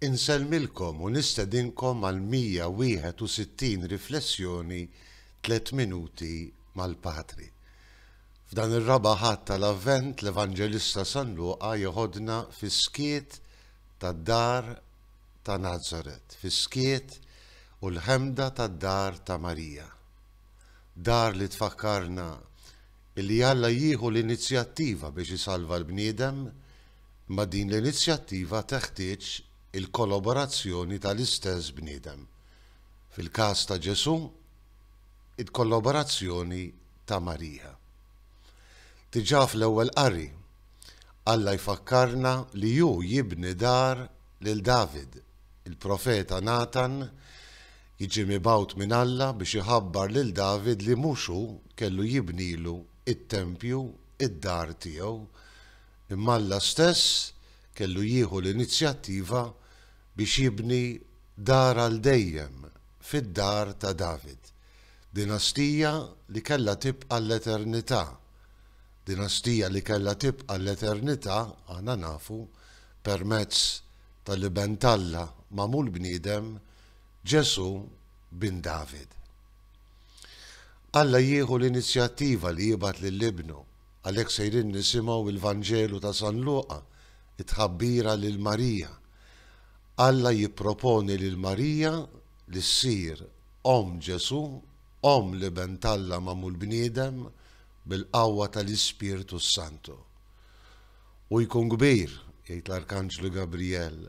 Insellmilkom u nistedinkom għall-161 riflessjoni Tliet Minuti mal-Patri. F'dan ir-Raba' Ħadd tal-Avvent l-Evanġelista San Luqa jeħodna fis-skiet tad-dar ta' Nazaret, fis-skiet u l-ħemda tad-dar ta' Marija. Dar li tfakkarna Billi Alla jieħu l-inizjattiva biex isalva l-bniedem, imma din l-inizjattiva teħtieġ il-koloborazzjoni tal-istess bniedem. Fil-każ ta' Ġesù, il-koloborazzjoni ta' Marija. Diġà fl-ewwel qari, Alla jfakkarna li hu jibni dar lil David, il-profeta Natan Jiġi mibgħut minn Alla biex iħabbar lil David li mhux hu kellu jibnilu t-tempju, id-dar tiegħu, imma Alla stess kellu jieħu l-inizjattiva biex jibni dar għal dejjem fid-dar ta' David, dinastija li kellha tibqa' l-eternità. Dinastija li kellha tibqa' l-eternità, aħna nafu, permezz tal-Iben t'Alla magħmul bniedem, Ġesù bin David. Alla jieħu l-inizjattiva li jibgħat lil Ibnu. Għalhekk sejrin nisimgħu il-Vanġelu ta' San Luqa, it-tħabbira lil Marija. Alla jipproponi lil Marija li ssir omm Ġesù, omm l-Iben t'Alla magħmul bniedem bil-qawwa tal-Ispirtu s-Santu. Hu jkun kbir, jgħid l-Arkanġlu Gabrijel,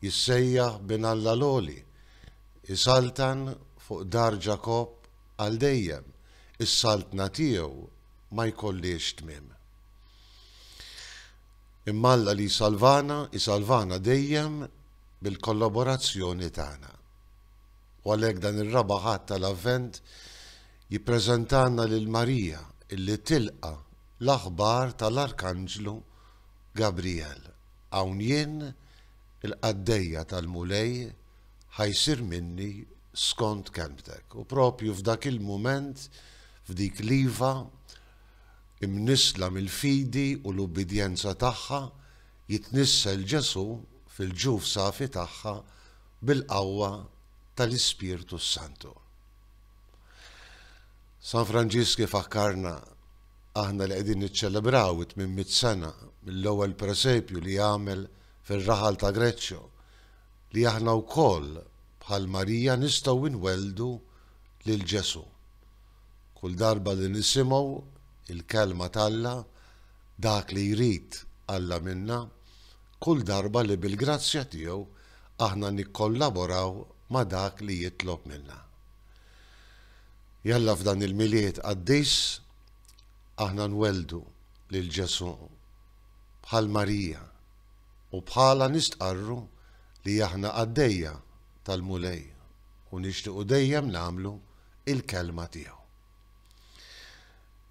Jissejjaħ bin Alla l-Għoli, isaltan fuq dar Ġakobb għal dejjem, is-saltna tiegħu ma jkollhiex tmiem. Imma Alla li jsalvana, isalvana dejjem bil-kollaborazzjoni tagħna. U għalhekk dan ir-Raba' Ħadd tal-Avvent jippreżentalna lil Marija illi tilqa' l-aħbar tal-Arkanġlu Gabrijel. Hawn jien, il-qaddejja tal-Mulej, ħa jsir minni skont kelmtek. U proprju f'dak il-mument, f'dik l-iva, imnissla mill-fidi u l-ubbidjenza tagħha, jitnissel Ġesù fil-ġuf safi tagħha bil-qawwa tal-Ispirtu s-Santu. San Franġisk ifakkarna, aħna li qegħdin niċċelebraw it-tmien mitt sena mill-ewwel presepju li għamel fir-raħal ta' Greccio, li aħna wkoll bħal Marija nistgħu nwelldu lil Ġesù. Kull darba li nisimgħu il-kelma t'Alla, dak li jrid Alla minna, kull darba li bil-grazzja tiegħu aħna nikkollaboraw ma' dak li jitlob minna. Jalla f'dan il-Milied qaddis aħna nwelldu lil Ġesù bħal Marija u bħalha nistqarru li aħna qaddejja tal-Mulej u nixtiequ dejjem nagħmlu il-kelma tiegħu.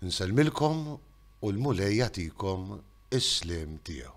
Nsellmilkom u l-Mulej jagħtikom is-sliem tiegħu.